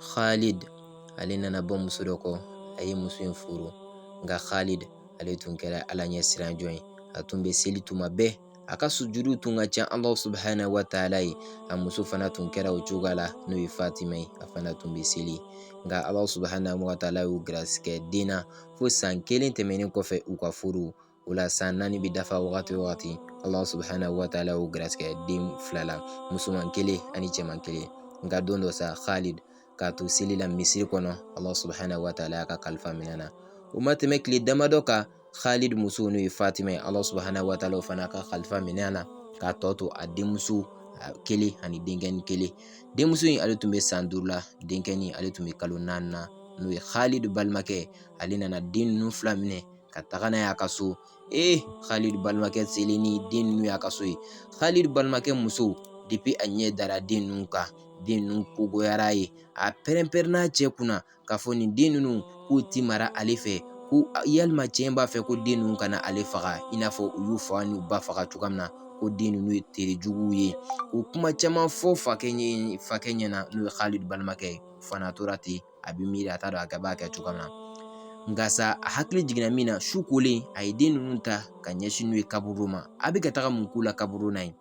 Khalid ale nana bɔ muso dɔ kɔ a ye muso in furu nka Khalid ale tun kɛra Ala ɲɛ siran jɔn ye a tun bɛ seli tuma bɛɛ a ka sujudu tun ka ca Alahu subahana wataala ye a muso fana tun kɛra o cogoya la n'o ye Fatima ye a fana tun bɛ seli nka Alahu subahana wataala y'u garisigɛ den na fo san kelen tɛmɛnen kɔfɛ u ka furu o la san naani bɛ dafa wagati o wagati Alahu subahana wataala y'u garisigɛ den fila la musoman kelen ani cɛman kelen nka don dɔ sa Khalid k'a to seli la misiri kɔnɔ Alahu subahana wataala y'a ka kalifa minɛ na o ma tɛmɛ tile damadɔ kan Khalid muso n'o ye Fatima ye Alahu subahana wataala o fana ka kalifa minɛ na k'a tɔ to a denmuso kelen ani denkɛnin kelen denmuso in ale tun bɛ san duuru la denkɛnin ale tun bɛ kalo naani na n'o ye Khalid balimakɛ ale nana den ninnu fila minɛ ka taga n'a y'a ka so ee Khalid balimakɛ selen ni den ninnu y'a ka so ye Khalid balimakɛ muso depuis a ɲɛ dara den ninnu kan den ninnu ko goyara a ye a pɛrɛn pɛrɛnna cɛ kunna k'a fɔ nin den ninnu k'u ti mara ale fɛ ko yalima cɛ in b'a fɛ ko den ninnu kana ale faga i n'a fɔ u y'u fa n'u ba faga cogoya min na ko den ninnu ye terejuguw ye o kuma caman fɔ fakɛ ɲɛna n'o ye Khalid balimakɛ ye fana tora ten a bɛ miiri a t'a dɔn a b'a kɛ cogo min na nka sa a hakili jiginna min na su kolen a ye den ninnu ta ka ɲɛsin n'u ye kaburu ma a bɛ ka taga mun k'u la kaburu la yen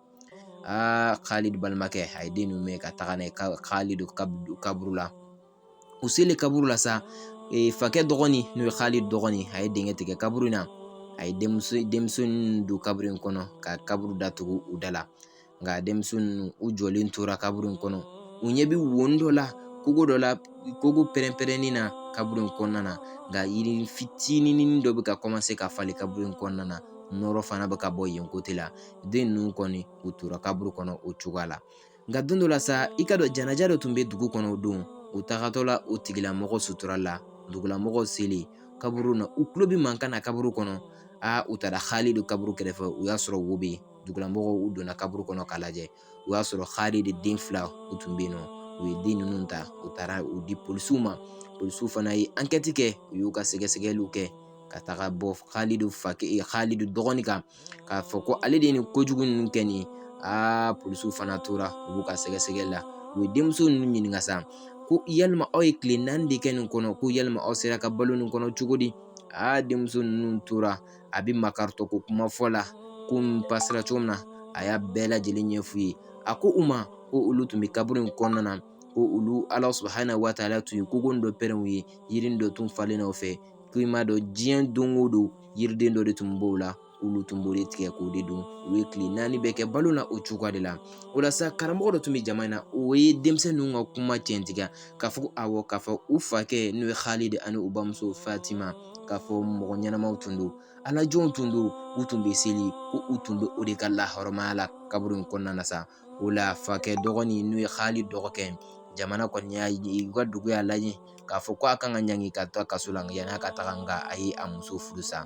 aa Khalid balimakɛ a ye den ninnu minɛ ka taga n'a ye Khalid kaburu la u selen kaburu la sa fakɛ dɔgɔnin n'o ye Khalid dɔgɔnin a ye dingɛ tigɛ kaburu in na a ye denmisɛn ninnu don kaburu in kɔnɔ ka kaburu datugu u da la nka denmisɛnnin ninnu u jɔlen tora kaburu in kɔnɔ u ɲɛ bɛ wo dɔ la kogo pɛrɛn pɛrɛnnin na kaburu in kɔnɔna na nka yiri fitinin dɔ bɛ ka ka falen kaburu in kɔnɔna na nɔrɔ fana bɛ ka bɔ yen kote la den ninnu kɔni u tora kaburu kɔnɔ o cogoya la nka don dɔ la sa i k'a dɔn janaja dɔ tun bɛ dugu kɔnɔ o don u tagatɔ la o tigilamɔgɔ sutura la dugulamɔgɔw selen kaburu na u tulo bɛ mankan na kaburu kɔnɔ aa u taara Khalid kaburu kɛrɛfɛ u y'a sɔrɔ wo bɛ yen dugulamɔgɔw u donna kaburu kɔnɔ k'a lajɛ u y'a sɔrɔ Khalid den fila u tun bɛ yen nɔ u ye den ninnu ta u taara u di polisiw ma polisiw fana ye ankɛti kɛ u y'u ka sɛgɛsɛgɛliw kɛ ka taga bɔ Khalid fa Khalid dɔgɔnin kan k'a fɔ ko ale de ye nin kojugu ninnu kɛ nin ye aa polisiw fana tora u b'u ka sɛgɛsɛgɛli la u ye denmuso ninnu ɲininka sa ko yalima aw ye tile naani de kɛ nin kɔnɔ ko yalima aw sera ka balo nin kɔnɔ cogo di aa denmuso ninnu tora a bɛ makaritɔ ko kuma fɔ la ko pasera cogo min na a y'a bɛɛ lajɛlen ɲɛ f'u ye a ko u ma ko olu tun bɛ kaburu in kɔnɔna na ko olu ala subahana wataala tun ye kogo dɔ pɛrɛn u ye yiri dɔ tun falen o fɛ ko i m'a dɔn diɲɛ don o don yiriden dɔ de tun b'o la olu tun b'o de tigɛ k'o de dun u ye tile naani bɛ kɛ balo la o cogoya de la o la sa karamɔgɔ dɔ tun bɛ jama in na o ye denmisɛn ninnu ka kuma tiɲɛtigiya k'a fɔ ko awɔ k'a fɔ u fakɛ n'o ye halidi ani u bamuso fatima k'a fɔ mɔgɔ ɲɛnamaw tun don ala jɔnw tun don u tun bɛ seli ko u tun bɛ o de ka lahɔrɔmaya la kaburu in kɔnɔna na sa o la fakɛ dɔgɔnin n'o ye halidi dɔgɔkɛ ye jamana kɔni y'a ye u ka dugu y'a lajɛ k'a fɔ ko a kan ka ɲangi ka to kaso la yan'a ka taga nka a ye a muso furusa